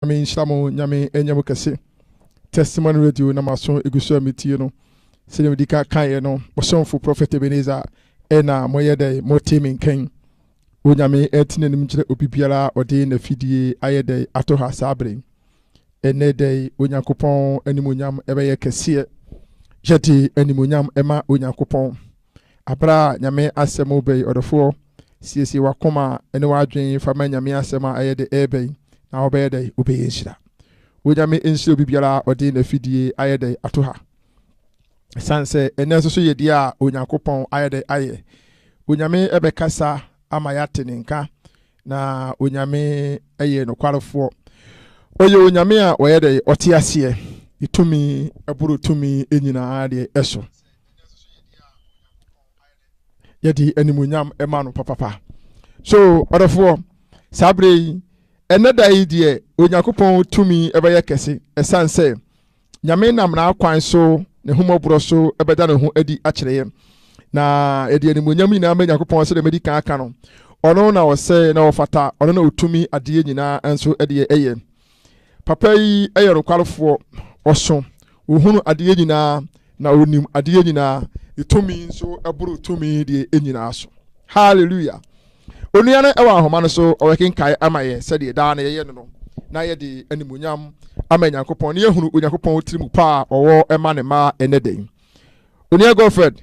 Nyame nhyira mo Nyame ɛnyɛ mo kɛse Testimony radio na maso egu so a metie no sɛdeɛ medi ka kaeɛ no ɔsomfo Prophet Ebenezer ɛna moyɛ dɛn mote me nkan Onyame ɛte nanim nkyerɛ obibiara a ɔde nafidie ayɛ dɛn ato ha saa bere ɛnɛ dɛn Onyankopɔn animuonyam ɛbɛyɛ kɛseɛ yɛde animuonyam ɛma Onyankopɔn. Aber a Nyame Asɛm reba yi, ɔdɔfoɔ, siesie w'akoma ne w'adwen fa ma Nyame Asɛm a ɛyɛ dɛ ɛreba yi, na wobɛyɛ dɛ wobɛyɛ nhyira. Onyame nhyira obi biara a ɔde n'afidie ayɛ dɛ ato ha. Ɛsiane sɛ ɛnnɛ nso so yɛ deɛ a Onyankopɔn ayɛ dɛ ayɛ. Onyame bɛkasa ama yɛate ne nka, na Onyame yɛ nokwarefoɔ. Ɔyɛ Onyame a ɔyɛ dɛ ɔte aseɛ, ne tumi boro tumi nyinaa deɛ so. yɛde animuonyam ma no papapa so ɔdɔfoɔ saa berɛ yi ɛnɛ da yi deɛ onyankopɔn tumi ɛbɛyɛ kɛse ɛsiane sɛ nyame nam n'akwan so ne homɔborɔ so ɛbɛda ne ho adi akyerɛeɛ na yɛde animuonyam nyinaa ma nyankopɔn sɛ deɛ madi kan aka no ɔno na ɔsɛ na ɔfata ɔno na ɔtumi adeɛ nyinaa nso ɛdeɛ ɛyɛ Papa yi yɛ nokwarefoɔ, ɔso, ɔhunu adeɛ nyinaa, na ɔnim adeɛ nyinaa, ne tumi nso boro tumi deɛ nyinaa so. Hallelujah! Onua no wɔ ahoma no so, ɔbɛkenkae ama yɛn sɛdeɛ daa na yɛyɛ no no, na yɛde animuonyam ama Nyankopɔn, na yɛhunu Onyankopɔn tiri mu pa a ɔwɔ ma ne mma ɛnɛ da yi. Onua Godfred.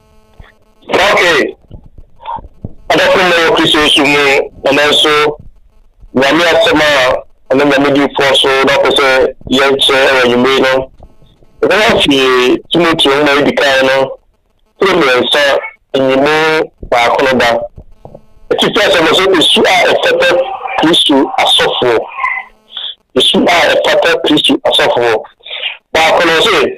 Okay. Adɔfo mma wɔ Kristo Yesu mu na nanso Nyame asɛm a ɛne Nyame difoɔ so na ɔpɛ sɛ yɛnkyerɛ wɔ anwummere no. Ɛbɛyɛ afei Timoteo nwoma edi kan no tiri mmiɛnsa nyimu baako no da. Atifi asɛm no sɛ esu a ɛfata Kristo asɔfoɔ. Esu a ɛfata Kristo asɔfoɔ. Baako no sɛ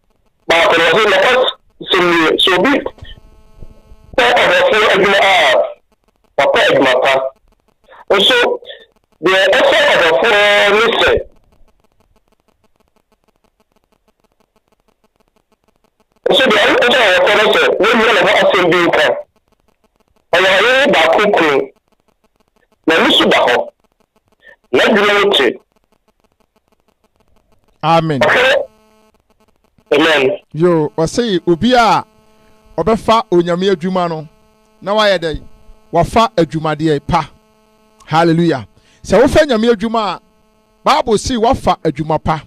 baako no ɔsɛ nɔkɔs sɛmie sɛ obi pɛ ɔbɔfoɔ adwuma a wapɛ adwuma pa nso deɛ ɛsɛ ɔbɔfoɔ ne sɛ nso deɛ ɛsɛ ɔbɔfoɔ ne sɛ wɔnyina ne ho asɛm bi nka ɔyɛ ɔyere baako kunu na ne su da hɔ n'adwuma no te amen amen yo ɔsɛ obi a ɔbɛfa onyame adwuma no na wayɛ dɛ wafa adwumadeɛ pa hallelujah sɛ wofa nyame adwuma a bible si wafa adwuma pa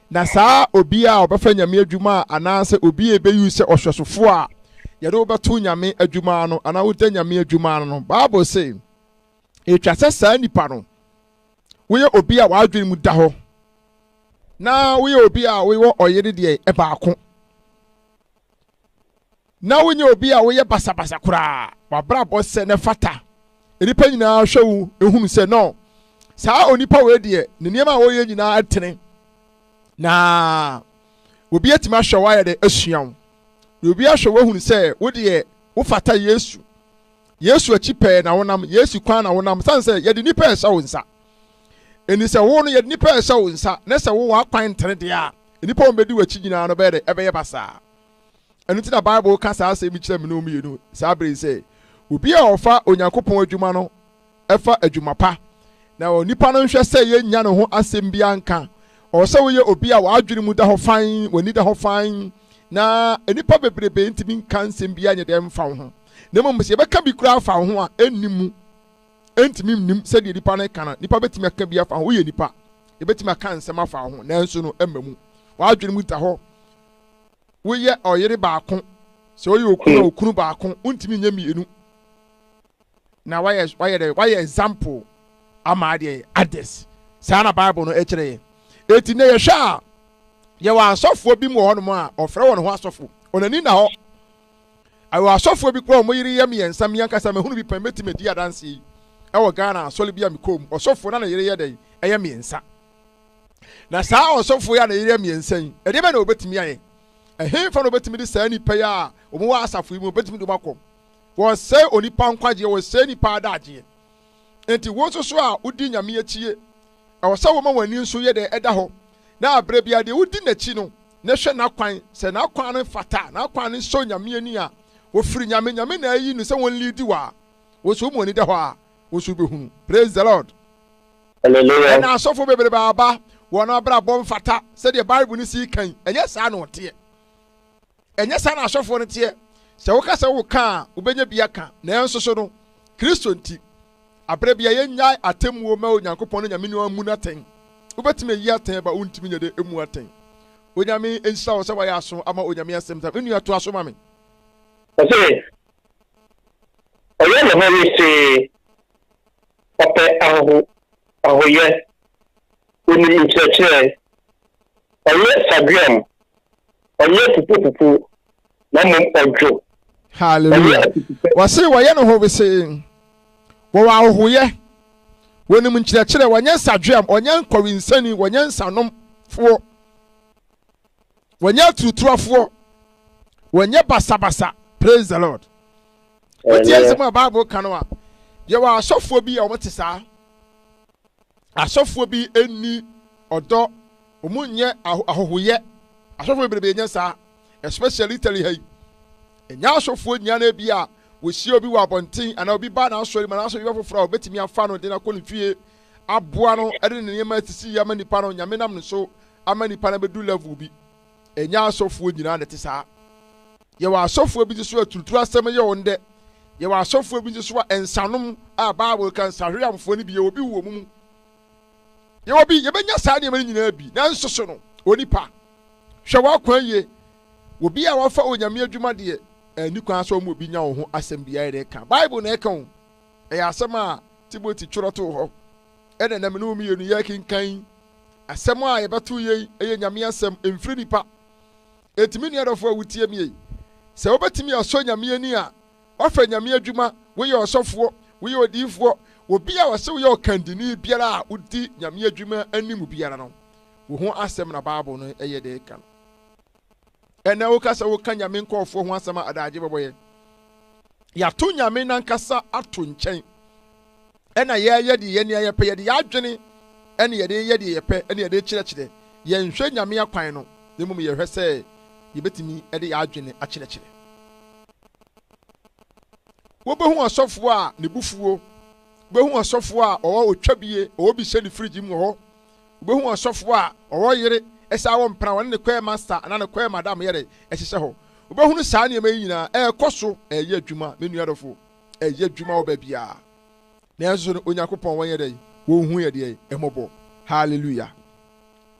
na saa obi a ɔbɛfa nyame adwuma a anaasɛ obi a ɛbɛyi sɛ ɔhwɛsofoɔ a yɛde wobɛto nyame adwuma no anaa woda nyame adwuma no no bible se ɛtwa sɛ saa nipa no woyɛ obi a w'adwene mu da hɔ na woyɛ obi a woyɛ ɔyere deɛ ɛbaako na wonyɛ obi a woyɛ basabasa koraa wabrabɔ sɛ ne fata nnipa nyinaa hwɛ wo ehunu sɛ no saa onipa wei deɛ ne nneɛma a wɔyɛ nyinaa tene na obi atumi ahwɛ wo ayɛ dɛ asua wo na obi ahwɛ wo ehunu sɛ wo deɛ wofata yesu Yesu akyi pɛɛ na wonam, Yesu kwan na wonam, sane sɛ yɛde nnipa ɛhyɛ wo nsa. Ɛni sɛ wo no yɛde nnipa ɛhyɛ wo nsa, na sɛ wo w'akwan ntene deɛ a, nnipa wɔn bɛdi w'akyi nyinaa no bɛyɛ dɛ ɛbɛyɛ basaa. Ɛno nti na Bible ka saa asɛm yi kyerɛ me ne wo mmienu saa berɛ yi sɛ, obi a ɔfa Onyankopɔn adwuma no ɛfa adwuma pa. Na onipa no nhwɛ sɛ yennya ne ho asɛm biara nka. Ɔwɔ sɛ woyɛ obi a w'adwene mu da hɔ fann, w'ani da hɔ fann, na nnipa bebrebe ntumi nka nsɛm biara nyɛ dɛn mfa wo ho. Na mmom sɛ yɛbɛka bi koraa afa wo ho a, enni mu. Entumi nnim sɛdeɛ nipa no ka no. Nipa betumi aka bi afa ho. Woyɛ nipa. Ebetumi aka nsɛm afa wo ho, nanso no ɛmma mu. W'adwene mu da hɔ. Woyɛ ɔyere baako. Sɛ woyɛ okunu a, okunu baako. Wontumi nyɛ mmienu. na wayɛ wayɛ dɛ wayɛ example ama adeɛ others saa na bible no ɛkyerɛ yɛ eti na yɛhwɛ a yɛwɔ asɔfoɔ bi mu wɔ hɔnom a ɔfrɛ wɔn ho asɔfo wɔn ani na hɔ ɛwɔ asɔfoɔ bi kura wɔn yere yɛ mmiɛnsa mmiɛnkasa mehunu bi pɛn mɛtumi adi adanse yi ɛwɔ ghana asɔre bi a mekɔɔ mu ɔsɔfoɔ na ne yere yɛ dɛn ɛyɛ mmiɛnsa na saa ɔsɔfoɔ yi a ne yere yɛ mmiɛnsa yi ɛdeɛ bɛ na wɔbɛtumi ayɛ ɛhefa na wɔbɛtumi de saa nipa yi a wɔn wɔ asafo yi mu wɔbɛtumi de wɔn akɔ Wɔsɛe onipa nkwagyeɛ, wɔsɛe nipa adagyeɛ. Enti wo nso so a wodi Nyame akyie, ɛwɔ sɛ woma w'ani nso yɛ dɛ ɛda hɔ, na berɛ biara deɛ wodi n'akyi no, na hwɛ n'akwan, sɛ n'akwan no fata, n'akwan no sɔ Nyame ani a, wɔfiri Nyame, Nyame na ayi no sɛ wɔn liidi wo a, wo nso woma w'ani da hɔ a, wo nso wobɛhunu. Praise the Lord. Hallelujah. Ɛna asɔfo bebrebe aba, wɔn abrabɔ mfata sɛdeɛ Bible no sii kan, ɛnyɛ saa na ɔteɛ. Ɛnyɛ saa na asɔfoɔ no teɛ. Sɛ woka sɛ woka a, wobɛnya bi aka. Nanso so no, Kristo nti, aberɛ bia yɛnnyae atemmuo mma Onyankopɔn ne Nyame no ammu no atɛn. Wobɛtumi ayi atɛn aba a wontumi nyɛ dɛ mmu atɛn. Onyame nhyira wo sɛ woayɛ aso ama Onyame asɛm tam. Me nua toa so ma me. Ɔse ɔyɛ ne ho wesee, ɔpɛ ahoho ahoyɛ, onim nkyerɛkyerɛ, ɔyɛ saguam, Ɔnyɛ pupopupo, na mmom ɔdwo. Hallelujah. Wɔse wɔyɛ no howesee. Wɔwɔ ahohoyɛ. Wɔnim nkyerɛkyerɛ. Wɔnyɛ nsadweam. Wɔnyɛ nkɔwensani. Wɔnyɛ nsanomfoɔ. Wɔnyɛ aturutuafoɔ. Wɔnyɛ basabasa. Praise the Lord. Wotie nsɛm a Bible ka no a, yɛwɔ asɔfoɔ bi a wɔte saa. Asɔfoɔ bi nni ɔdɔ, wɔn nyɛ ahɔhoyɛ. Asɔfoɔ bebrebe nyɛ saa, especially Italy ha yi. Ɛnyɛ asɔfoɔ nyinaa na ebi a wɔhyia obi wɔ abɔnten anaa obi ba n'asɔre mu anaa asɔre ba foforɔ a wɔbɛtumi afa no de no akɔ ne fie aboa no de ne nneɛma asisi ama nipa no, Nyame nam ne so ama nipa no abɛdu level bi. ɛnyɛ asɔfoɔ nyinaa na ɛte saa yɛwɔ asɔfoɔ bi nso so aturuturu asɛm yɛ wɔn dɛ yɛwɔ asɔfoɔ bi nso so a nsanom a bible ka nsahweamfoɔ no bi yɛwɔ bi wɔ mu mu yɛwɔ bi yɛbɛnya saa nneɛma no nyinaa bi nanso so no onipa hwɛ w'akwan yie obi a wafa onyame adwuma deɛ ɛni kwan sɛ ɔmo obi nya wo ho asɛm biara na ɛka bible na ɛka wo ɛyɛ asɛm a timothy twerɛ too hɔ na na me ne wo mmienu yɛrekenkan asɛm a yɛbɛto yei yɛ Nyame asɛm, ɛmfiri nipa. Enti me nua dɔfo a wotie mie, sɛ wobɛtumi asɔ Nyame ani a, woafa Nyame adwuma, woyɛ ɔsɔfoɔ, woyɛ odiyifoɔ, obi a wɔse woyɛ ɔkandini biara a wodi Nyame adwuma anim biara no, wo ho asɛm na Bible no yɛ de ka no. Ɛnnɛ woka sɛ woka Nyame nkorɔfoɔ ho asɛm a adaagye bɛbɔ yɛn. Yɛato Nyame nankasa ato nkyɛn ɛna yɛɛyɛ deɛ yɛn nea yɛpɛ, yɛde yɛadwene ɛne yɛde yɛ deɛ yɛpɛ ɛne yɛde kyerɛkyerɛ. Yɛnhwɛ Nyame akwan no, na mmom yɛhwɛ sɛ yɛbɛtumi ɛde yɛadwene akyerɛkyerɛ. Wobɛhu ɔsɔfoɔ a nebufuo, wobɛhu ɔsɔfoɔ a ɔwɔ otwabie, ɔwɔ bi hyɛ ne fridge mu wɔ hɔ, Wubehu ɔsɔfo a ɔwɔ yere sɛ awo mpena, wɔne ne kwɛɛ masta anaa ne kwɛɛ madam yɛ dɛ hyehyɛ hɔ. Wobɛhunu saa nneɛma yi nyinaa ɛrekɔ so ɛreyɛ adwuma, me nua dɔfo, ɛreyɛ adwuma wɔ baabiara. Nanso no, Onyankopɔn wɔnyɛ dɛn? Onhu yɛ deɛ mmɔbɔ. Hallelujah!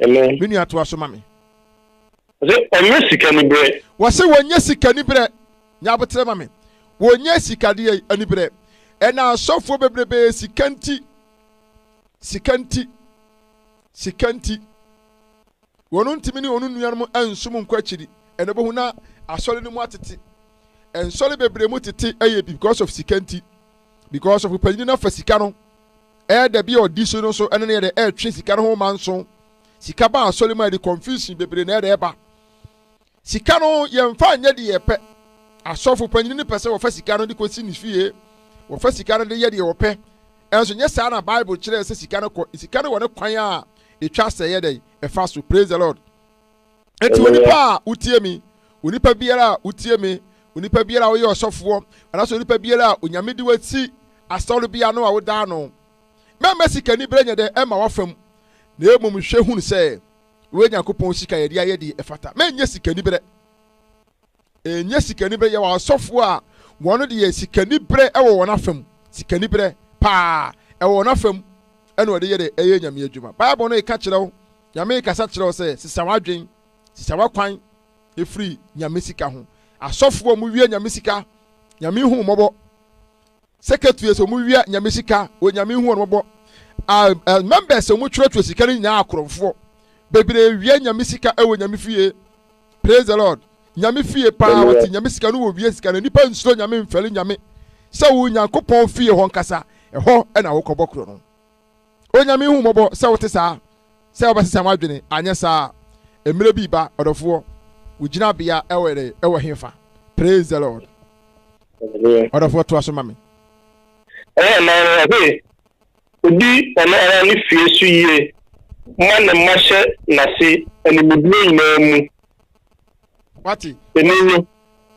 Amen. Me nua toa so ma me. Wɔse ɔnyɛ sika nibrɛ. Wɔse wɔnyɛ sika nibrɛ. Nyɛ aboterɛ ma me. Wɔnyɛ sikadeɛ anibrɛ. Ɛna asɔfoɔ bebrebe sika nti Sika nti, sika nti, wɔn ntumi ne wɔn nuanom nsom nkɔ akyiri. Ɛna bɛhu na asɔre no mu atete. Nsɔre bebree mu tete ɛyɛ because of sika nti. Because of panyin no afa sika no ɛɛda bi a ɔdi so no so ɛne no yɛde ɛɛtwe sika no ho manso. Sika ba asɔre mu a ɛde confusion bebree na ɛde ɛba. Sika no yɛmfa nyɛ deɛ yɛpɛ. Asɔfo panyin no pɛ sɛ wɔfa sika no de kɔsi ne fie. Wɔfa sika no de yɛ deɛ wɔpɛ. Ɛnso nyɛ saa na Bible kyerɛɛ sɛ sika no kɔ. Sika no wɔ ne kwan a ɛtwa sɛ ɛyɛ dɛn? Ɛfa so. Praise the Lord. Enti onipa a wotie me, onipa biara a wotie me, onipa biara a woyɛ ɔsɔfoɔ, anaasɛ onipa biara a onyame de wasi asɔre bi ano a wodaa no, mɛmma sikani berɛ nyɛ dɛ ɛma wafam, na mmom hwɛ hunu sɛ Wei Nyankopɔn sika yɛde ayɛ deɛ ɛfata. Ma ɛnyɛ sikaniberɛ. Ɛnyɛ sikaniberɛ. Yɛwɔ asɔfoɔ a wɔn deɛ sikaniberɛ wɔ wɔn afa mu. Sikaniberɛ paa ɛwɔ wɔn afa mu. Ɛna wɔde yɛ dɛ ɛyɛ Nyame adwuma. Bible no reka kyerɛ wo, Nyame rekasa kyerɛ wo sɛ sesa w'adwen, sesa w'akwan ɛfiri Nyame sika ho. Asɔfoɔ a wɔwia Nyame sika, Nyame nhu wo mmɔbɔ. secretaries a wɔn wia nyame sika onyame hu wɔn mɔbɔ uh, members a wɔn twerɛtwerɛ sika no nyinaa akorɔmfoɔ bebree wia nyame sika ɛwɔ nyame fie praise the lord nyame fie paa wɔte nyame sika no wɔ wia sika no nipa nsuro nyame mfɛle nyame sɛ wo nyankopɔn fie hɔ nkasa ɛhɔ ɛna wokɔbɔ korɔ no Onyame hu mmɔbɔ sɛ wote saa, sɛ wobɛsesa w'adwene, anyɛ saa a, mmerɛ bi reba, ɔdɔfoɔ, wo gyinabea wɔ dɛ, wɔ hefa? Praise the Lord. Ɔdɔfoɔ toa so ma me. Ɛyɛ mmaa no ɔhwe odi ɔno ara ne fie so yie ma ne mma hyɛ n'ase animduro nyinaa mu. Wate? Ɛni no.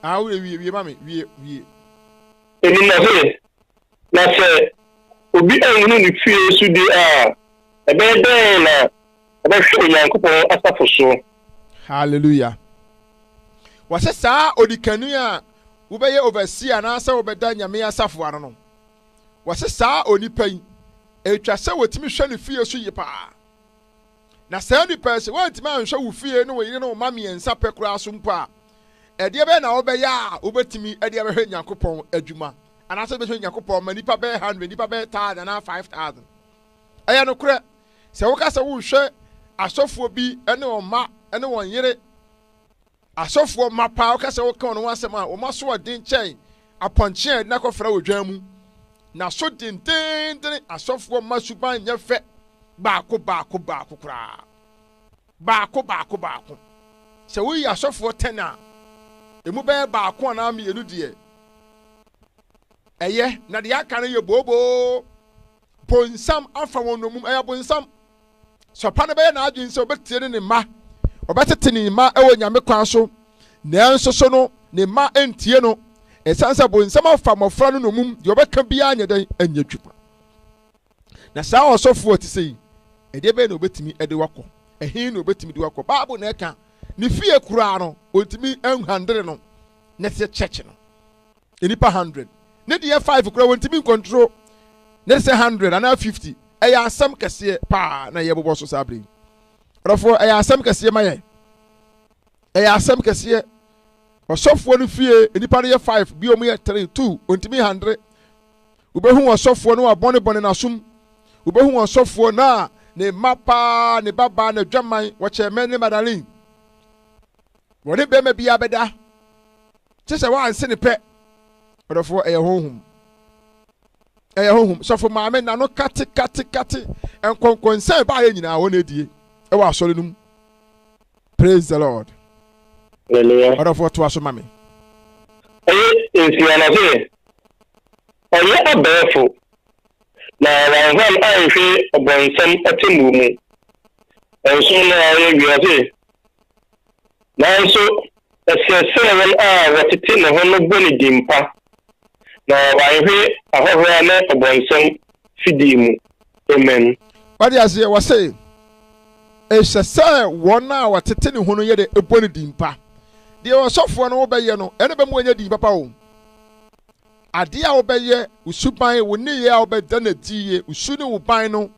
Ah, wie, wie, wie ma me, wie, wie. Ɛni no ɔhwe Na sɛ obi anhunu ne fie so de a, ɛbɛyɛ dɛn na ɔbɛhwɛ Onyankopɔn asafo so? Hallelujah. Wɔse saa onikanni a wobɛyɛ overseer anaasɛ wobɛda Nyame asafo ano no, wɔse saa onipa yi, ɛtwa sɛ wɔtumi hwɛ ne fie so ye paa. Na saa nnipa yi, sɛ woantumi anhwɛ wo fie ne wo yere ne wo mma mmiɛnsa pɛ koraa so mpo a, ɛdeɛ bɛyɛ na wobɛyɛ a wobɛtumi de abɛhwɛ Nyankopɔn adwuma? Anaasɛ wobɛhwɛ Nyankopɔn ma nnipa bɛyɛ hundred, nnipa bɛyɛ thousand anaa five thousand? Ɛyɛ nokorɛ, sɛ woka sɛ wohwɛ asɔfoɔ bi ne wɔn mma ne wɔn yere, Asɔfoɔ mma paa woka sɛ woka wɔn ho asɛm a, wɔn asoɔden kyɛn apɔnkye a yɛde no akɔfra wɔ dwan mu. Na so dendeenden asɔfoɔ mma suban nyɛ fɛ baako baako baako koraa. Baako baako baako. Sɛ woyi asɔfoɔ ten a, emu bɛyɛ baako anaa mmienu deɛ ɛyɛ, na deɛ aka no yɛ booboo. bonsam afa wɔn nnommum ɛyɛ bonsam sɛ ɔpa no bɛyɛ n'adwene sɛ ɔbɛtie ne ne mma ɔbɛtete ne mma ɛwɔ nyame kwan so nanso so no ne mma ntie no ɛsiane sɛ bonsam afa mmɔfra no nnommum deɛ ɔbɛka biara nyɛ dɛn ɛnyɛ adwuma na saa ɔsɔfoɔ te sɛ yi ɛdeɛ bɛyɛ na ɔbɛtumi ɛde wakɔ ɛhe na ɔbɛtumi de wakɔ baabo na ɛka ne fie koraa no ɔntumi nhandere no na ɛsɛ kyɛkye no nnipa hundred ne deɛ five kura wɔntumi nkɔntro ne sɛ hundred anaa fifty ɛyɛ asɛm kɛseɛ paa na ɛyɛ bobɔ so saa bere yi ɔdɔfoɔ ɛyɛ asɛm kɛseɛ ma yɛn ɛyɛ asɛm kɛseɛ ɔsɔfoɔ no fie nnipa no yɛ five bi wɔn yɛ three two wɔntumi hundred wobɛhu ɔsɔfoɔ no abɔnebɔne n'asom wobɛhu ɔsɔfoɔ no a ne mma paa ne babaa na adwaman wɔkyɛ mɛ ne madalin wɔne bɛrima biara bɛda kyɛ sɛ wanse ne pɛ ɔdɔfoɔ ɛyɛ honhom ɛyɛ honhom sɔfo maame na no kate kate kate nkɔnkɔnsɛn baayɛ nyinaa wɔn na ɛdie ɛwɔ asɔre no mu praise the lord ɔdɔfoɔ toa so ma me ɛyɛ nsia na sɛ ɔyɛ abɛɛfo na wanhwan anhwɛ ɔbɔnsam atemmuo mu nso na ɔyɛ wiase nanso Ɛsɛ sɛ wɔn a wɔtete ne ho no bɔ ne din pa, na wɔanhwe ahohora ne ɔbonsam fidii mu. Amen. Wate aseɛ? Wɔse, Ɛsɛ sɛ wɔn a wɔtete ne ho no yɛ dɛ, ɛbɔ ne din pa. Deɛ ɔsɔfoɔ no wobɛyɛ no, ɛne bɛma wanya din papa o. Adeɛ a wobɛyɛ, wo suban, wo nneyɛɛ a wobɛda no adi yɛ, wo su ne wo ban no,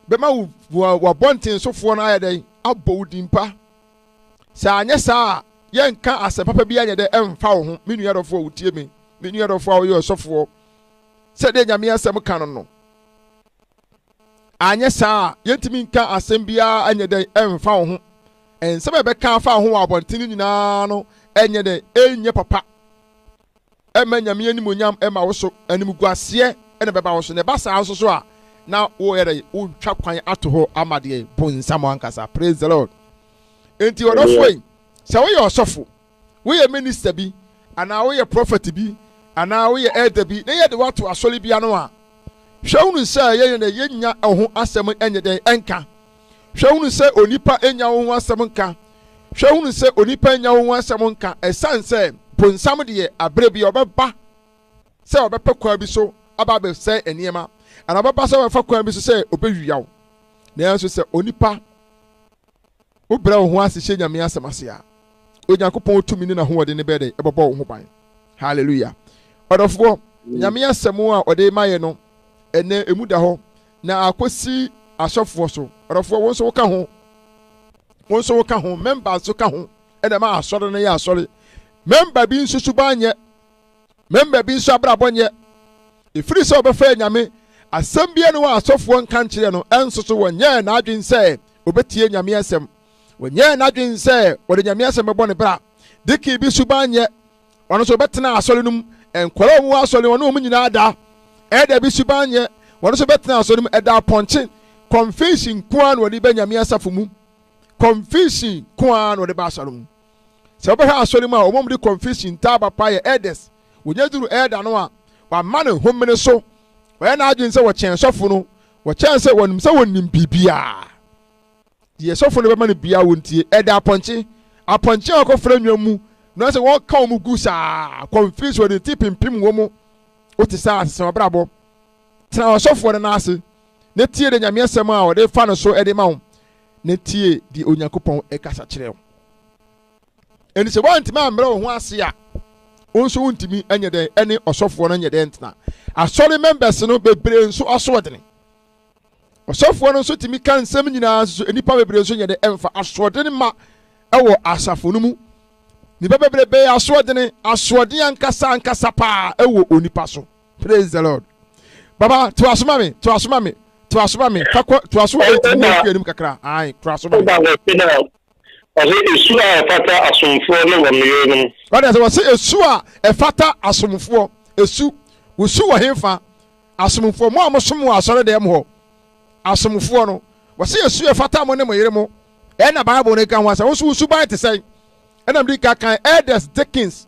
bɛma wo abɔntensofoɔ no ayɛ dɛn? Abɔ wo din pa. sɛ anyɛ saa a yɛnka asɛm papa bi anyɛ dɛ ɛmfa wo ho me nua dɔfo a wotie me me nua dɔfo a woyɛ ɔsɔfoɔ sɛdeɛ nyame asɛm ka no no anyɛ saa a yɛntumi nka asɛm biara anyɛ dɛ ɛmfa wo ho nsɛm a ɛbɛka afa ho wɔ abɔnten no nyinaa no ɛnyɛ dɛ ɛnyɛ papa ɛmma Nyame animuonyam mma wo so, animguaseɛ na ɛbɛba wo so, na ɛba saa nso so a, na woyɛ dɛ, wotwa kwan ato hɔ ama deɛ bonsam ankasa, praise the Lord. Enti ɔdɔfoɔ yi, sɛ woyɛ ɔsɔfo, woyɛ minister bi, anaa woyɛ prophet bi, anaa woyɛ elder bi, na yɛde woato asɔre bi ano a, hwɛ hunu sɛ yɛyɛ dɛ, yɛnnya ɛho asɛm nyɛ dɛn nka, Hwɛ hunu sɛ onipa nnya wo ho asɛm nka. Hwɛ hunu sɛ onipa nnya wo ho asɛm nka ɛsiane sɛ bonsam deɛ aberɛ bi ɔbɛba sɛ ɔbɛpɛ kwan bi so aba abɛsɛe nneɛma anaa ɔbɛba sɛ ɔbɛfa kwan bi so sɛ ɔbɛwia wo. Nanso sɛ onipa wobrɛ wo ho ase hyɛ Nyame asɛm ase a, Onyankopɔn tumi ne n'ahoɔden ne bɛyɛ dɛ ɛbɛbɔ wo ho ban. Hallelujah. Ɔdɔfoɔ, Nyame asɛm a ɔde ma yɛ no ɛnɛ ɛmu da hɔ na akosi asɔfoɔ so ɔdɔfoɔ wo nso woka ho wo nso woka ho mɛmba nso ka ho ɛna ma asɔre no yɛ asɔre mɛmba bi nso suban nyɛ mɛmba bi nso abrabɔ nyɛ ɛfiri sɛ ɔbɛfɛ nyame asɛm bia no wɔ asɔfoɔ nka nkyerɛ no ɛnso so wɔnyɛɛ n'adwen sɛ ɔbɛtie nyame asɛm wɔnyɛɛ n'adwen sɛ wɔde nyame asɛm bɛbɔ ne bra diki bi suban nyɛ ɔno nso ɔbɛtena asɔre no mu nkwadaa a wɔwɔ asɔre wɔne wɔn nyinaa da ɛda bi suban nyɛ wɔn nso bɛtena asɔre no mu ɛda apɔnkye convention nko ara na wɔde bɛ nyame asafo mu convention nko ara na wɔde ba asɔre mu sɛ wɔbɛhwɛ asɔre mu a wɔn mu de convention taaba pa yɛ elders wɔnyɛ duru ɛda no a wɔama ne homene so wɔyɛ n'adwene sɛ wɔkyɛn sɔfo no wɔkyɛn sɛ wɔnim sɛ wɔnim biribiara Deɛ sɔfo no bɛma no biara wo ntie. Ɛda apɔnkye. Apɔnkye a ɔkɔ fira nnwa mu na sɛ wɔn ka wɔn gu saa kɔnfiri so ɔde ti pimpim wɔn mu. O te saa asesa ɔbrabɔ. Tena ɔsɔfoɔ no nan ase na tie de nyame asɛm a ɔde fa no so ɛde ma wo na tie deɛ Onyankopɔn ɛkasa kyerɛ wo. Ɛni sɛ wɔntumi ammrɛ wo ho ase a wo nso wontumi ɛnyɛ dɛn ɛne ɔsɔfoɔ no nyɛ dɛn tena. Asɔre members no bebree nso asoɔdene. ɔsɔfoɔ no nso tumi ka nsɛm nyinaa nso nnipa bebree nso nyɛ de ɛmfa asoɔdene ma ɛwɔ asafo no mu nnipa bebree bɛyɛ asoɔdene asoɔden ankasa ankasa paa ɛwɔ onipa so praise the lord baba to asoma me to asoma me to asoma me kakɔ to aso ɛnti mo fi anim kakra ae to asoma me Ɔse esu a ɛfata asomfoɔ ne wɔn yerenom. Wate ase? Ɔse esu a ɛfata asomfoɔ, esu, wo su wɔ henfa? Asomfoɔ, mo a mo som wɔ asɔredɛm hɔ, asomfoɔ no, Ɔse esu a ɛfata mo ne mo yere mo. Ɛna Bible no ka ho asɛm, wo nso wo suban te sɛn? Ɛna mede ka kan Elders Dickens.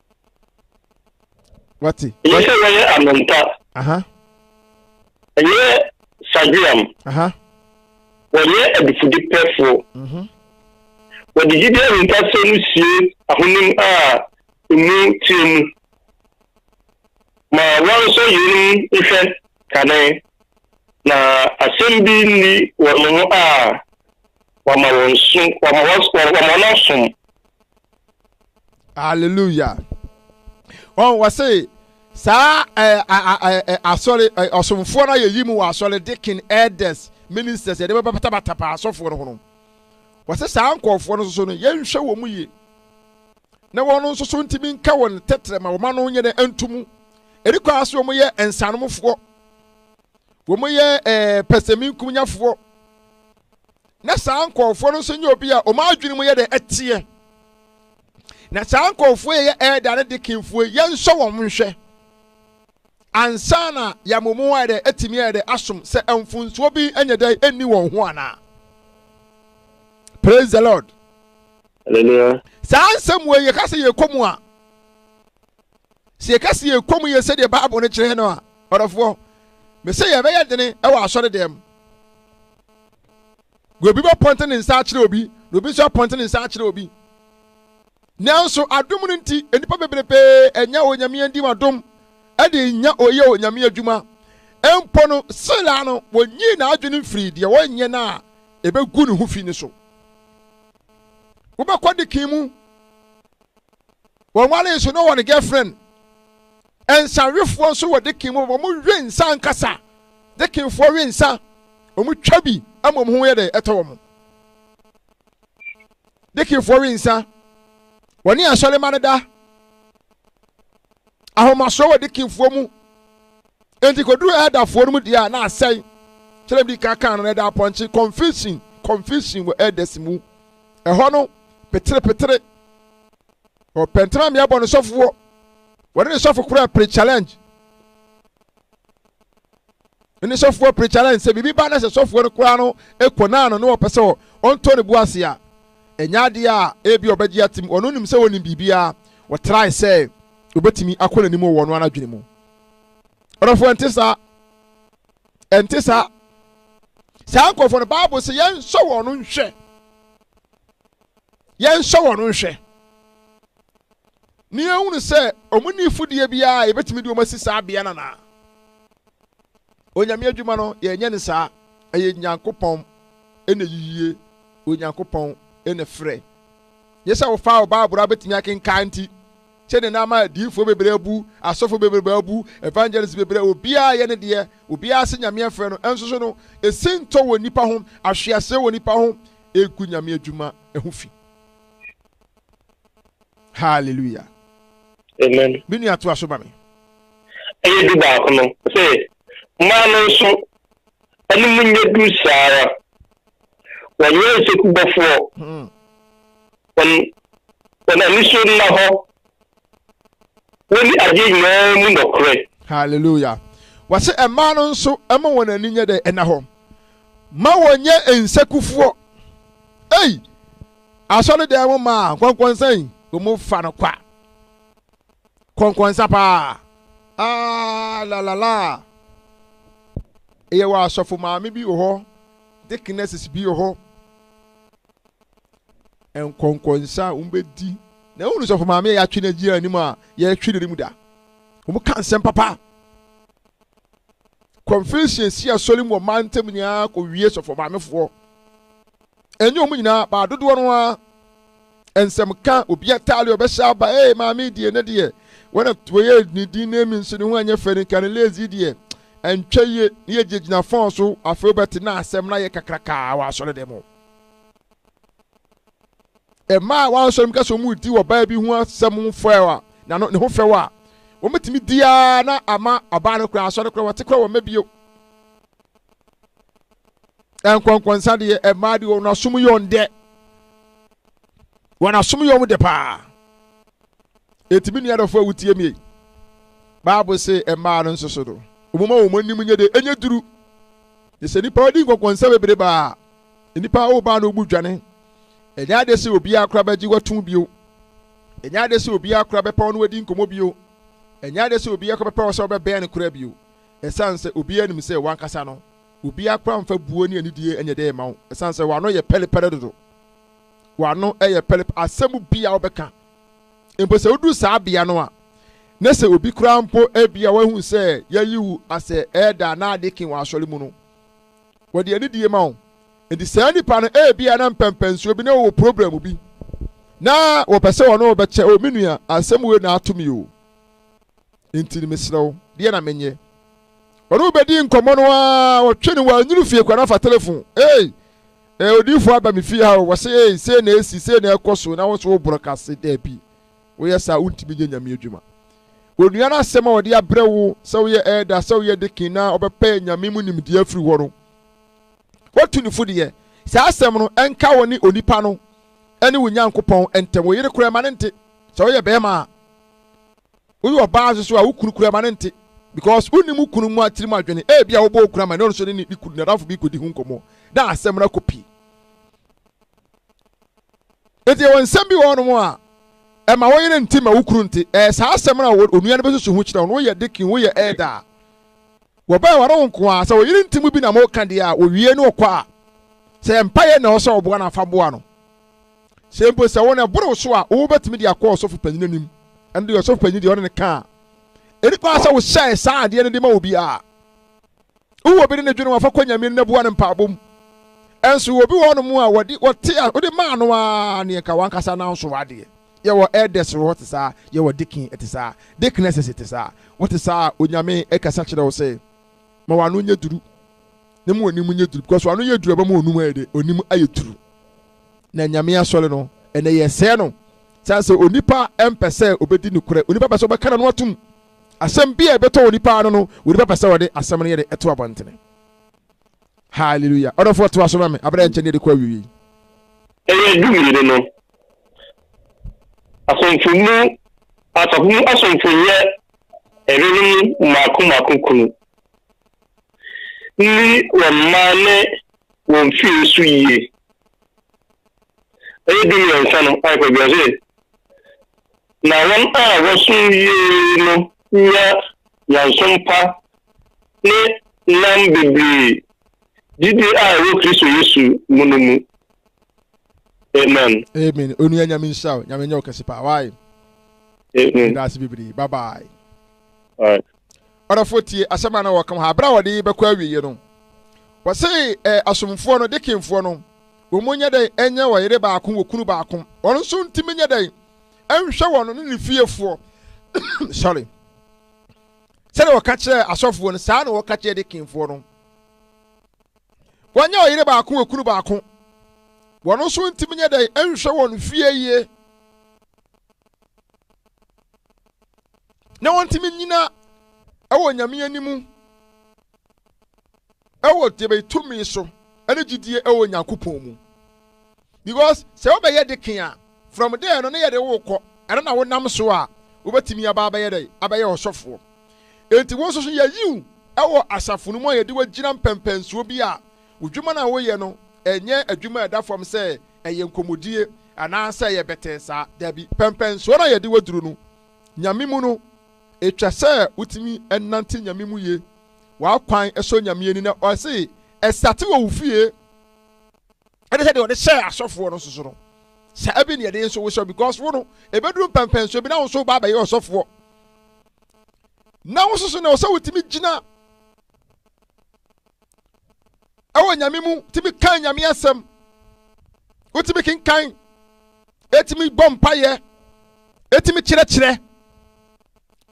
wate ɛyɛ sɛ wɔyɛ anompa ɛyɛ sageam wɔyɛ adifudepɛfoɔ mhm. wɔde gyidi ahunkasɛm no sie ahonim a ɛmu teɛ mu ma wɔnsɔ yeinom nhwɛ kane na asɛm bi nni wɔn ho a wɔama wɔn so wɔama wɔn asom hallelujah wɔn wɔ se saa ɛɛ ɛɛ asɔre ɛɛ ɔsomfoɔ no yɛyi mu wɔ asɔre deacon elders ministers yɛde bɛbatabata paa asɔfoɔ no ho no wɔsɛ saa nkɔɔfoɔ no nso no yɛnhwɛ wɔn mu yie na wɔn nso so ntumi nka wɔn tɛtrɛ ma wɔn ano nyɛ dɛ ntumu ɛdi kɔ ase wɔn yɛ nsanomfoɔ wɔn yɛ ɛɛ pɛsɛminkumnyafoɔ Na saa nkurɔfoɔ no nso nyɛ obi a wɔn adwene mu yɛ dɛ ɛteɛ. Na saa nkurɔfoɔ yɛ yɛ ɛɛda ne dekinfoɔ yɛnsɔ wɔn nhwɛ ansa na yɛama wɔn ayɛ dɛ atumi ayɛ dɛ asom sɛ mfonsoɔ bi nyɛ dɛ ɛnni wɔn ho anaa. Praise the Lord. Hallelujah. Saa nsɛm wɔ yɛka sɛ yɛkɔ mu a sɛ yɛka sɛ yɛkɔ mu yɛ sɛdeɛ Bible no kyerɛ no a ɔdɔfoɔ mesɛ yɛbɛyɛ dene wɔ asɔre dɛm obi bɛpɔnte ne nsa akyerɛ obi na obi nso apɔnte ne nsa akyerɛ obi nanso adom no nti nnipa bebrebe anya onyame adim adom ɛde nya ɔyɛ onyame adwuma mpo no sela no wɔnyii n'adwene mfiri deɛ wɔnyɛ no a ɛbɛgu ne ho fi no so wobɛkɔ de kin mu wɔnwale nso na ɔwɔ ne girlfriend Nsawefoɔ nso wɔ deken mu, wɔn we nsa ankasa. Dekenfoɔ we nsa, wɔn twa bi ama wɔn ho yɛ dɛ ɛtɔ wɔn. Dekenfoɔ we nsa, wɔne asɔrema no da. Ahomasoɔ wɔ dekenfoɔ mu. Enti koduru ɛdafoɔ no mu deɛ a na asɛe. Kyerɛ bi ka kan no na ɛda apɔnkye confusion confusion wɔ ɛdas mu. Ɛhɔ no petere petere. ɔpɛntɛma mmea bɔ ne sɔfoɔ wɔde ne sɔfo kura pre challenge ne sɔfoɔ pre challenge sɛ biribi ba na sɛ sɔfoɔ no koraa no kɔ naa no na wɔpɛ sɛ ɔntɔ ne bo ase a ɛnyɛ adeɛ a ebi ɔbɛgye atim ɔno nim sɛ wɔnim biribiara wɔtrae sɛ obetumi akɔ n'anim wɔ wɔn ano adwene mu ɔdɔfoɔ ɛnte saa ɛnte saa saa nkurɔfoɔ no baabu sɛ yɛn nsɔ wɔn nhwɛ. Yɛnhyɛ wɔn nhwɛ na yɛhunu sɛ wɔn nni mfudeɛ biara a yɛbɛtumi de wɔn asi saa bea no anaa. Onyame adwuma no, yɛnyɛ no saa. Ɛyɛ Nyankopɔn na yiyie, Onyankopɔn na frɛ. Nyɛ sɛ wofaa wo Bible a wobɛtumi akenkan nti, sɛdeɛ na ama adiyifoɔ bebree abu, asɔfo bebree abu, evangelist bebree, obiara yɛ ne deɛ, obiara se Nyame afrɛ no, nso so no, esi ntɔ wɔ nnipa ho, ahweaseɛ wɔ nnipa ho, regu nyame adwuma ho fi hallelujah amen me nua to aso ma me ɛyɛ du baako no sɛ mmaa no nso ɛne mu nyɛ du saa ara wɔnyɛ nsekubɔfoɔ hmm. wɔn wɔn anisuo nna hɔ Wɔne adeɛ nyinaa mu nɔkorɛ. Hallelujah. Wɔse mmaa no nso ɛma wɔn ani nyɛ dɛ ɛna hɔ. Ma wɔnyɛ nsɛkufoɔ. Ei! Asɔre dan mu maa nkɔnkɔnsa yi wɔn fa no kwa. Kɔnkɔnsa paa. Ah la la la. Ɛyɛ wɔ asɔfo maame bi wɔ hɔ. Deaconesses bi wɔ hɔ. nkɔnkɔnsa a wɔbɛdi na wonu sɔfo maame a yɛatwe no agyina anim a yɛretwe no mu da wɔn ka nsɛm papa confession si asɔre mu ɔmaa ntam nyinaa kɔ wie sɔfo maamefoɔ ɛnyɛ wɔn nyinaa baa dodoɔ no ara nsɛm ka obi ataare ɔbɛhyɛ aba ee maame deɛ ne deɛ wɔn a wɔyɛ ne din na emi nso ne ho anyɛ fɛ ne ka ne lazy deɛ ɛntwa yie ne yɛ gyinagyina fɔn so afei wɔbɛte na asɛm na yɛ kakrakaa wɔ asɔre dɛm o. mmaa a wɔasɔre mu kasa wɔn redi ɔbaa bi ho asɛm ho fɛw a na no ne ho fɛw a wɔbɛtumi di ara na ama ɔbaa no koraa asɔre koraa wɔte koraa wɔn mma bio nkɔnkɔnsa deɛ mmaa deɛ wɔn asom yɛ wɔn dɛ wɔn asom yɛ wɔn dɛ paa. Enti me nua dɔfo a wotie me yi, Bible se mmaa no nso so no, wɔmma wɔn anim nyɛ de ɛnyɛ duru. Na sɛ nipa ɔde nkɔnkɔnsa bebree baa nipa a ɔbaa na ɔbu dwane, ɛnyɛ ade sɛ obiara kora bɛgye wato bio. Ɛnyɛ ade sɛ obiara kora bɛpɛ ɔno adi nkɔmmɔ bio. Ɛnyɛ ade sɛ obiara kora bɛpɛ ɔsɛ ɔbɛbɛn no kora bio. Ɛsiane sɛ obiara nim sɛ wankasa no, obiara kora mfa buo ne anidie nyɛ dɛ ma wo, ɛsiane sɛ w'ano yɛ pɛrepɛre dodo. w'ano yɛ pɛrɛp asɛm bi a wobɛka mpo sɛ woduru saa bea no a na sɛ obi koraa mpo ebi a wahu sɛ yɛayi wo asɛ ɛɛda na ade ke wɔ asɔre mu no wɔde anidie ma wo nti saa nipa no ebi a na mpɛmpɛnsuo bi na wɔwɔ program bi na wɔpɛ sɛ wɔne wɔbɛkyɛ o me nua asɛm wei na ato mi o Enti mesrɛ wo, deɛ na menyɛ? Ɔne wo bɛdii nkɔmmɔ no ara, ɔtwe no wannwunu fie kora no afa telefon. Ei, eh, odiyifoɔ aba me fie ha o, wɔse ei, sei na ɛsi, sei na ɛkɔ so, na wo nso woborɔ ka se dabi, woyɛ saa a wontumi nyɛ Nyame adwuma. Onua no asɛm a ɔde abrɛ wo sɛ woyɛ ɛɛda, sɛ woyɛ dekin na ɔbɛpɛ Nyame mu nimdeɛ afiri hɔ no, woatu ne fo deɛ, saa asɛm no, ɛnka wo ne onipa no ne wo Nyankopɔn ntam. Wo yere koraa ma no nte, sɛ woyɛ bɛɛma a. woyɛ ɔbaa nso so a wo kunu kura ma no nte because wonim wo kunu mu atirim adwene ebi a wobɔ wo kunu ama ne ɔno nso ne ne kunu nadamfo bi kɔdi ho nkɔmmɔ na asɛm no akɔ pii nti ɛwɔ nsɛm bi wɔ hɔnom a ɛma wo yere nte ma wo kunu nte ɛyɛ saa asɛm no a onua no bɛsusu ho kyerɛ wo no woyɛ dekin woyɛ ɛda a wɔbɛyɛ wɔre wo nko a sɛ wɔyere nti mu bi na moka deɛ a wɔwie ne ɔkɔ a sɛ mpaeɛ na ɔsɛ ɔboa no afa boa no sɛ mpo sɛ wɔn ɛboro so a wobɛtumi de akɔ ɔsɔfo panyin anim ɛno deɛ ɔsɔfo panyin deɛ ɔne no ka a ɛni kwan sɛ wohyɛe saa adeɛ no de ma obi a wowɔ bi ne ne dwene wafa kɔ nyame no boa no mpaabɔ mu ɛnso obi wɔ nom a wɔde wɔte a wode maa no a ne nka wankasa no nso adeɛ yɛwɔ elders wɔ hɔ te saa yɛwɔ deacon te saa deaconesses te saa wɔte saa onyame ɛkasa kyerɛ wo sɛ ma wano nyɛ duru na mu onim nyɛ duru because wano yɛ duru ɛbɛma onum ayɛ de onim ayɛ duru na nyame asɔre no ɛnɛ yɛsɛɛ no sane sɛ onipa mpɛ sɛ obɛdi nokorɛ onipa pɛ sɛ ɔbɛka na no atom asɛm bi a ɛbɛtɔ onipa no no onipa pɛ sɛ ɔde asɛm no yɛ de ɛto abɔntene hallelujah ɔdɔfoɔ to aso ma me abrɛ nkyɛn ne de kɔ awiei ɛyɛ du mmienu no asomfo mu asafo mu asomfo yɛ ɛrenom mmaako mmaako kunu nni wɔn mma ne wɔn fie so yie. Ɛyɛ du mmiɛnsa no ayɛ pɛ bi ɔse na wɔn a wɔsom yie no nya nyansom pa ne nam bebree gyidie a ɛwɔ Kristo Yesu mu no mu. Amen. Amen. Onua nyame nhyira wo. Nyame nyɛ wo kɛse paa. Why? Amen. Ndase bebree. Bye bye. All right. Ɔdɔfoɔ tie asɛm a na wɔka wɔ ha. Berɛ a wɔde rebɛkɔ awieɛ no, wɔse eh, asomfoɔ no, dekenfoɔ no, wɔn nyɛ dɛn ɛnyɛ ɔyere baako, wɔkunu baako. Wɔn nso ntumi nyɛ dɛn ɛnhwɛ wɔn ne ne fiefoɔ. Sorry. Sɛdeɛ wɔka kyerɛ asɔfoɔ no, saa na wɔka kyerɛ dekenfoɔ no. Wɔnyɛ ɔyere baako, wɔkunu baako. Wɔn nso ntumi nyɛ dɛn ɛnhwɛ wɔn fie yie. na wɔntumi nnyina wɔ Nyame anim wɔ debe tumi so ne gyidie wɔ Nyankopɔn mu. Because sɛ wobɛyɛ deken a, from there no ne yɛde wo kɔ, ɛno na wonam so a wobɛtumi aba abɛyɛ dɛ abɛyɛ ɔsɔfoɔ. Enti wo nso so yɛyi wo wɔ asafo no mu a yɛde wo agyina mpɛmpɛnsoɔ bi a wodwuma no a woyɛ no ɛnyɛ adwuma a ɛda fam sɛ ɛyɛ nkɔmmɔdie anaasɛ ɛyɛ bɛtɛɛ saa, daabi, pɛmpɛnsoɔ no a yɛde wo aduru no Nyame mu no, etwa sɛ wotumi nante Nyame mu ye, w'akwan sɔ Nyame ani na ɔse ɛsate wɔ wo fie ɛne sɛdeɛ ɔde hyɛɛ asɔfoɔ no nso so no saa bi ne ɛde nso wohyɛ because wo no ɛbɛduru mpɛmpɛnsoɔ bi na wo nso wobaa bɛyɛ ɔsɔfoɔ na wo nso so na ɔsɛ wotumi gyina ɛwɔ nyame mu tumi kan nyame asɛm wotumi kenkan Etumi bɔ mpaeɛ, etumi kyerɛkyerɛ,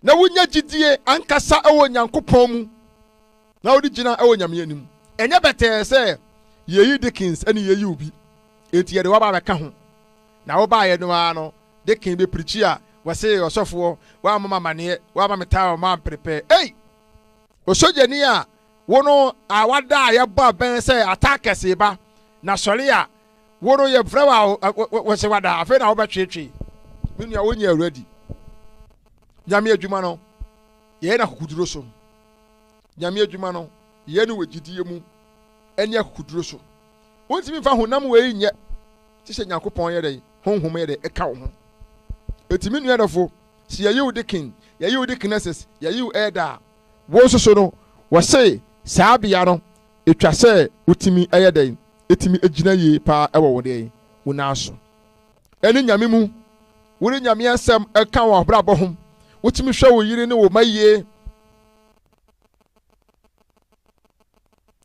na wonya gyidie ankasa wɔ Nyankopɔn mu, na wode gyina wɔ Nyame anim. Ɛnyɛ bɛtɛɛ sɛ yɛyi Dickens ɛne yɛyi obi, enti yɛde waba abɛka ho. Na wobaeɛ no ara no, Dickens bɛpirikyi a wɔse ɔsɔfoɔ, woammɔ me amaneɛ, woamma me towel mu ampere pɛ. Ei! Osogyani a wo no a wada a yɛbɔ abɛn sɛ attackers reba, na sɔre a wo no yɛfrɛ wo a wɔsɛ wada afei na wobɛtweetwee me nua wonyɛ awuradi nyame adwuma no yɛyɛ no akokoduro so nyame adwuma no yɛyɛ no wɔ gyidie mu ɛne akokoduro so wontumi mfa honam wei nyɛ te sɛ nyankopɔn yɛ dɛn honhom yɛ dɛn ɛka wo ho ɛtumi nua dɔfo sɛ yɛyi wo dekin yɛyi wo dekinesis yɛyi wo ɛda a wo nso so no wɔse saa bea no Etwa sɛ wotumi yɛ dɛn tumi gyina yie paa wɔ wo dɛn, wo nan so. Ɛne Nyame mu, wode Nyame asɛm ka wɔn abrabɔ ho, wotumi hwɛ wo yere ne wo ma yie,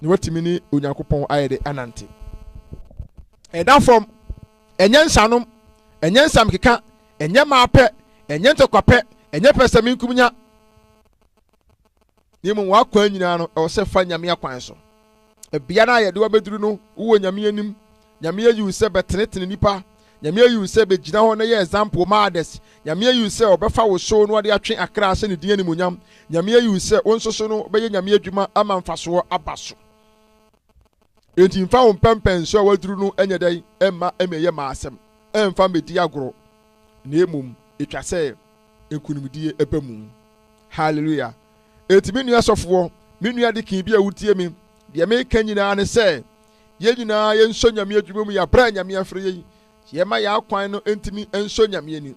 na watumi ne Onyankopɔn ayɛ dɛ anante. Ɛda fam, ɛnyɛ nsanom, ɛnyɛ nsamkeka, ɛnyɛ maapɛ, ɛnyɛ ntɔkwapɛ, ɛnyɛ pɛsɛmenkominya. na mmom w'akwan nyinaa no, ɛwɔ sɛ fa Nyame akwan so. Bea no a yɛde wabɛduru no, wowɔ Nyame anim. Nyame ayi wo sɛ bɛtenetene nnipa. Nyame ayi wo sɛ bɛgyina hɔ na yɛ example ma others. Nyame ayi wo sɛ ɔbɛfa wo so na ɔde atwe akra ahyɛ ne din animuonyam. Nyame ayi wo sɛ wo nso so no wobɛyɛ Nyame adwuma ama mfasoɔ aba so. Enti mfa wo mpɛmpɛnso a waduru no nyɛ dɛn mma mmɛyɛ mmaasɛm, mfa mmɛdi agorɔ, na mmom ɛtwa sɛ nkunimdie ba mu. Hallelujah. Enti me nua sɔfoɔ, me nua dekin bi a wotie me, deɛ meka nyinaa ne sɛ, yɛn nyinaa yɛnsɔ Nyame adwuma mu yɛ aberɛ a Nyame afrɛ yɛn. Yɛma yɛn akwan no ntumi nsɔ Nyame ani.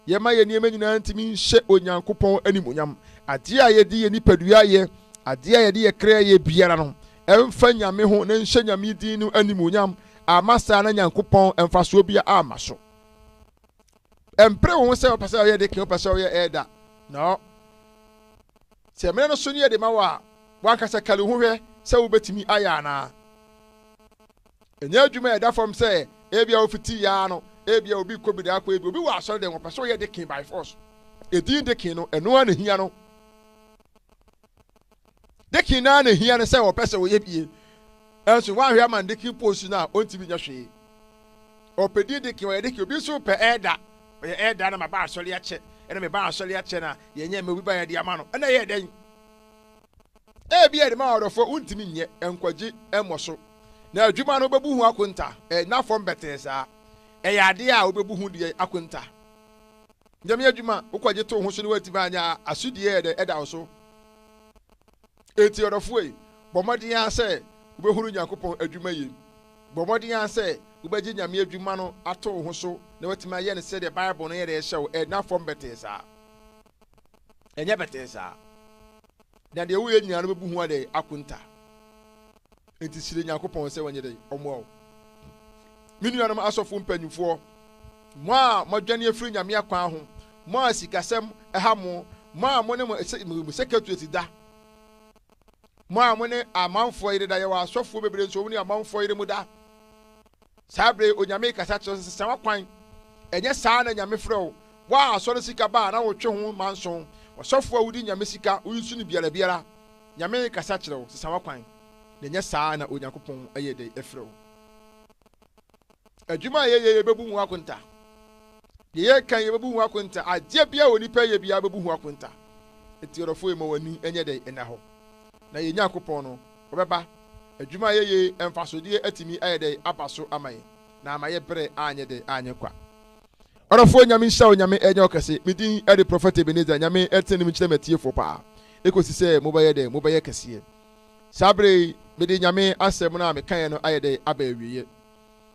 Yɛma yɛn nneɛma nyinaa ntumi nhyɛ Onyankopɔn animuonyam. Adeɛ a yɛde yɛn nipadua yɛ, adeɛ a yɛde yɛ kra yɛ biara no, ɛmfa Nyame ho na nhyɛ Nyame din no animuonyam. Ama saa na Nyankopɔn mfasoɔ bia ama so. ɛmpere wo ho sɛ wopɛ sɛ ɔyɛ de kee wopɛ sɛ ɔyɛ ɛɛda no sɛ mmerɛ no so ne yɛde ma wɔ a wankasa kari ho hwɛ sɛ wobɛtumi ayɛ anaa ɛnyɛ adwuma a ɛda fam sɛ ebia wofiti yaa no ebia obi kɔ bi daakɔ ebi obi wɔ asɔre dɛn wɔpɛ sɛ ɔyɛ de kee by force ɛdin de kee no ɛno a na hia no Dekin no ara na ehia no sɛ ɔpɛ sɛ ɔyɛ bie. Nanso woanhwɛ ama no dekin post no a ɔntumi nyɛ hwee. Ɔpɛ din dekin, ɔyɛ dekin. Obi nso pɛ elder, ɔyɛ elder na maba asɔre akyɛ. Ɛna meba asɔre akyɛ na yɛnyɛ ma obi ba yɛde ama no. Ɛna ɛyɛ dɛn? Ebia yɛde ma ɔdɔfoɔ wontumi nyɛ, nkwagye mmɔ so. Na adwuma no wobɛbu ho akonta, ɛnna fam bɛtee saa. Ɛyɛ adeɛ a wobɛbu ho deɛ akonta. Nyame adwuma a wokɔgye too ho so no woantumi anyɛ a, asodi a ɛyɛ dɛ da wo so. Enti ɔdɔfo ei, bɔ mmɔden ara sɛ wobɛhunu Nyankopɔn adwuma yie. Bɔ mmɔden ara sɛ wobɛgye Nyame adwuma no ato wo ho so na woatumi ayɛ no sɛdeɛ Bible no yɛ dɛ hyɛ wo, ɛnna fam bɛtee saa. Ɛnyɛ bɛtee saa. Na deɛ woyɛ nyinaa no bɛbu ho adɛn akonta nti srɛ nyankopɔn sɛ wɔnyɛ dɛn ɔmmoa wo me nuanom asɔfo mpanimfoɔ mo a moadwane afiri nyame akwan ho mo a sikasɛm ɛha mo mo a mo ne mo secretaries da mo a mo ne amanfoɔ yere da yɛwɔ asɔfoɔ bebree nso wɔn ne amanfoɔ yere mu da Saa bere yi Onyame rekasa kyerɛ no sɛ, Sɛ w'akwan, ɛnyɛ saa na Nyame frɛ wo, wo a asɔre sika ba a na wotwe ho manso, ɔsɔfo a wodi Nyame sika, wonsu no biara biara, Nyame rekasa kyerɛ wo, sesa w'akwan, na ɛnyɛ saa na Onyankopɔn yɛ dɛn frɛ wo. Adwuma a yɛyɛ yɛbɛbu ho akonta. Deɛ yɛka yɛbɛbu ho akonta. Adeɛ biara onipa yɛ biara bɛbu ho akonta. Eti ɔdɔfo yi ma w'ani nyɛ dɛn nna hɔ. Na yɛn Nyankopɔn no Ɔbɛba. Adwuma a yɛyɛ yi mfasodeɛ atumi ayɛ dɛn aba so ama yɛn na ama yɛ berɛ anyɛ dɛn anyɛ kwa. Ɔdɔfoɔ Nyame nhyira wo Nyame ɛnyɛ wo kɛse me din ɛde Prophet Ebenezer Nyame ɛtene ne mu nkyerɛ m'atiefoɔ paa ɛkɔsi sɛ mobɛyɛ dɛn mobɛyɛ kɛseɛ saa berɛ yi mede Nyame asɛm no a mekaeɛ no ayɛ dɛn aba awieɛ.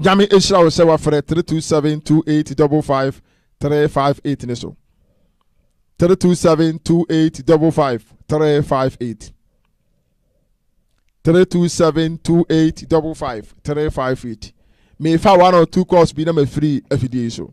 nyame ɛhyira wo sɛ wafrɛ 327285558 ne so 327285558 327285558 mefa one or two calls bi na mafiri afidie yi so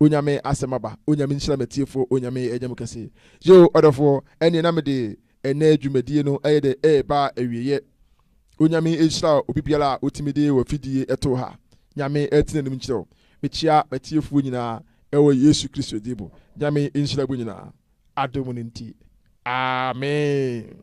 Onyame asɛm aba Onyame nhyira matiefoɔ Onyame ɛnyɛ mo kɛse Yoo ɔdɔfoɔ ɛneɛ na mede ɛnɛ dwumadie no ɛyɛ dɛ ɛɛba awieɛ Onyame nhyira obi biara a otumi de wafidie ɛtoo ha Nyame ɛte nanim nkyerɛ wo Mekyea matiefoɔ nyinaa ɛwɔ Yesu Kristo din mu Nyame nhyira mo nyinaa adom no nti Amen.